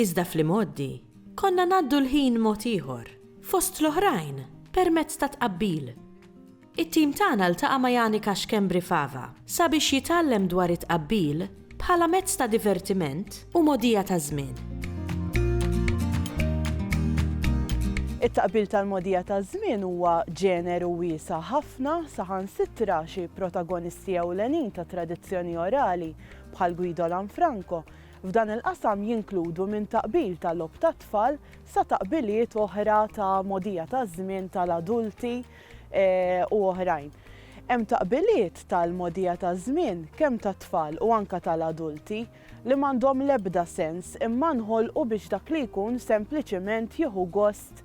Iżda fl-imgħoddi, konna ngħaddu l-ħin mod ieħor, fost l-oħrajn, permezz ta' tqabbil. It-tim tagħna ltaqa' ma' Janika Schembri Fava sabiex jitgħallem dwar it-tqabbil bħala mezz ta' divertiment u mogħdija taż-żmien. It-tqabbil tal-mogħdija taż-żmien huwa ġeneru wiesa' ħafna, saħansitra xi protagonisti ewlenin tat-tradizzjoni orali, bħal Guido Lanfranco, F'dan il-qasam jinkludu minn taqbil ta' logħob tat-tfal sa taqbiliet oħra ta' mogħdija taż-żmien tal-adulti u oħrajn. Hemm taqbiliet tal-mogħdija taż-żmien kemm tat-tfal u anke tal-adulti li m'għandhom l-ebda sens imma nħolqu biex dak li jkun sempliċiment jieħu gost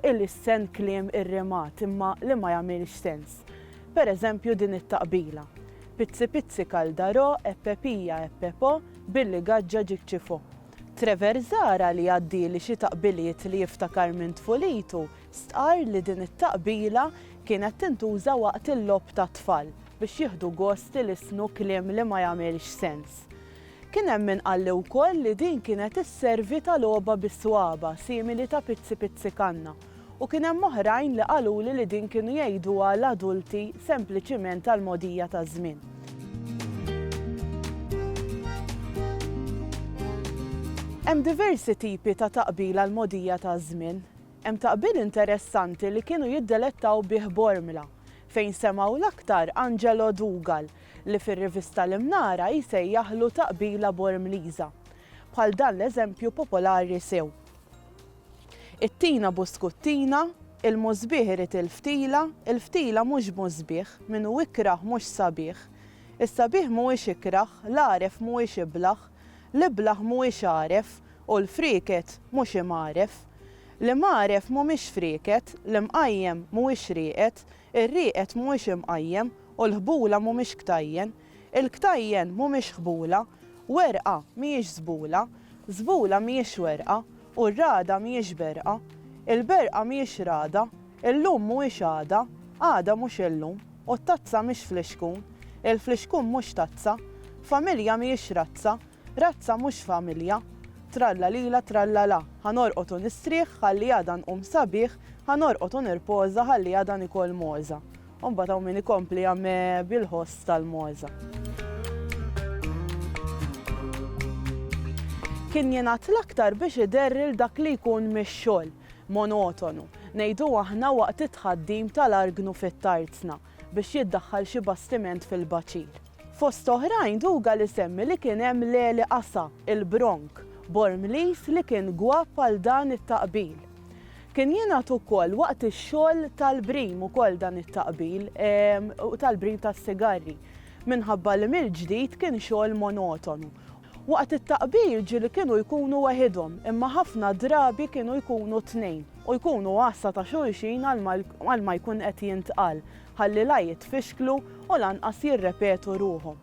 ilissen kliem irrimat imma li ma jagħmilx sens. Pereżempju din it-taqbila. Pizzi pizzi kaldarò e pepija e pepo billi gaġġa ġik ċifò. Trevor Zahra li għaddieli xi taqbiliet li jiftakar minn tfulitu stqarr li din it-taqbila kienet tintuża waqt il-logħob tat-tfal biex jieħdu gost ilisnu kliem li ma jagħmilx sens. Kien hemm min qalli wkoll li din kienet isservi ta' logħoba bis-swaba' simili ta' pizzi pizzi kanna. U kien hemm oħrajn li qaluli li din kienu jgħiduha l-adulti sempliċiment għall-mogħdija taż-żmien. Hemm diversi tipi ta' taqbil għall-mogħdija taż-żmien. Hemm taqbil interessanti li kienu jiddelettaw bih Bormla, fejn semgħu l-aktar Angelo Dougal, li fir-rivista l-Imnara jsejjaħlu taqbila Bormliża. Bħal dan l-eżempju popolari sew. It-tina buskuttina, il-musbieħ irid il-ftila, il-ftila mhux musbieħ, min hu ikrah mhux sabiħ, is-sabiħ mhuwiex ikrah, l-għaref mhuwiex iblah, l-iblah mhuwiex għaref, u l-frieket mhux imgħaref. L-imgħaref mhumiex frieket, l-imqajjem mhuwiex rieqed, ir-rieqed mhuwiex imqajjem, u l-ħbula mhumiex ktajjen. Il-ktajjen mhumiex ħbula, werqa mhijiex żbula, żbula mhijiex werqa, u r-ragħda mhijiex berqa. Il-berqa mhijiex ragħda, illum mhuwiex għada, għada mhux illum, u t-tazza mhix flixkun, il-flixkun mhux tazza. Familja mhijiex razza, razza mhux familja. Trallalila trallala, ħa norqod u nistrieħ ħalli għada nqum sabiħ, ħa norqod u nirpoża ħalli għada nikol mogħża. U mbagħad hawn min ikompli għame bil-ħoss tal-mogħża. Kien jingħad l-aktar biex iderril dak li jkun mix-xogħol monotonu, ngħidu aħna waqt it-tħaddim tal-argnu fit-tarzna biex jiddaħħal xi bastiment fil-baċir. Fost oħrajn Dougal isemmi li kien hemm l-għeli qasa, il-bronk, Bormliż li kien gwapp għal dan it-taqbil. Kien jingħad ukoll waqt ix-xogħol tal-brim ukoll dan it-taqbil u tal-brim tas-sigarri minħabba li mill-ġdid kien xogħol monotonu. Waqt it-taqbil ġieli kienu jkunu weħidhom imma ħafna drabi kienu jkunu tnejn u jkunu għassa ta' xulxin għal ma jkun qed jintqal ħalli la jitfixklu u lanqas jirrepetu ruħhom.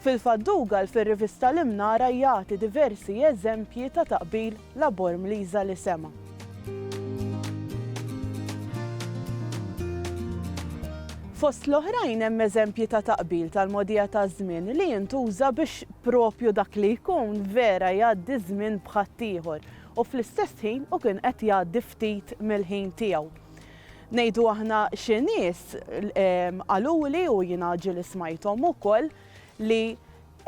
Fil-fatt Dougal fir-rivista l-Imnara jagħti diversi eżempji ta' taqbil labor mliża li sema'. Fost l-oħrajn hemm eżempji ta' taqbil tal-mogħdija taż-żmien li jintuża biex propju dak li jkun vera jgħaddi żmien b'ħaddieħor u fl-istess ħin u kien qed jgħaddi ftit mill-ħin tiegħu. Ngħidu aħna xi nies qaluli u jiena ġieli smajthom ukoll li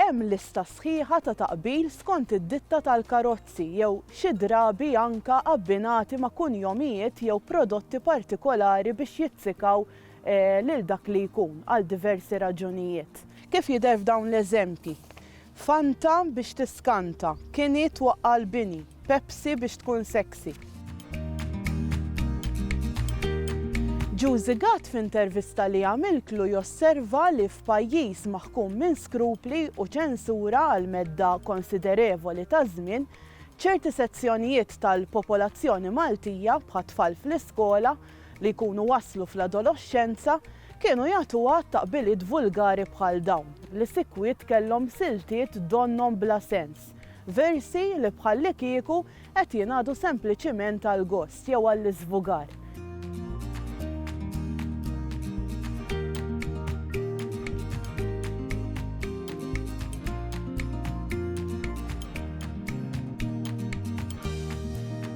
hemm lista sħiħa ta' taqbil skont id-ditta tal-karozzi jew xi drabi anke abbinati ma' kunjomijiet jew prodotti partikolari biex jizzikaw lil dak li jkun għal diversi raġunijiet. Kif jidher f'dawn l-eżempji, Fanta biex tiskanta. Kini twaqqa' l-bini. Pepsi biex tkun sexy. Juzi Gatt f'intervista li għamiltlu josserva li f'pajjiż maħkum minn skrupli u ċensura għal medda konsiderevoli ta' żmien, ċerti sezzjonijiet tal-popolazzjoni Maltija, bħat-tfal fl-iskola, li jkunu waslu fl-adoloxxenza kienu jagħtu għadd ta' qbiliet vulgari bħal dawn, li sikwit kellhom siltiet donnhom bla sens, versi li bħallikieku qed jingħadu sempliċiment għall-gost jew għall-iżvugar.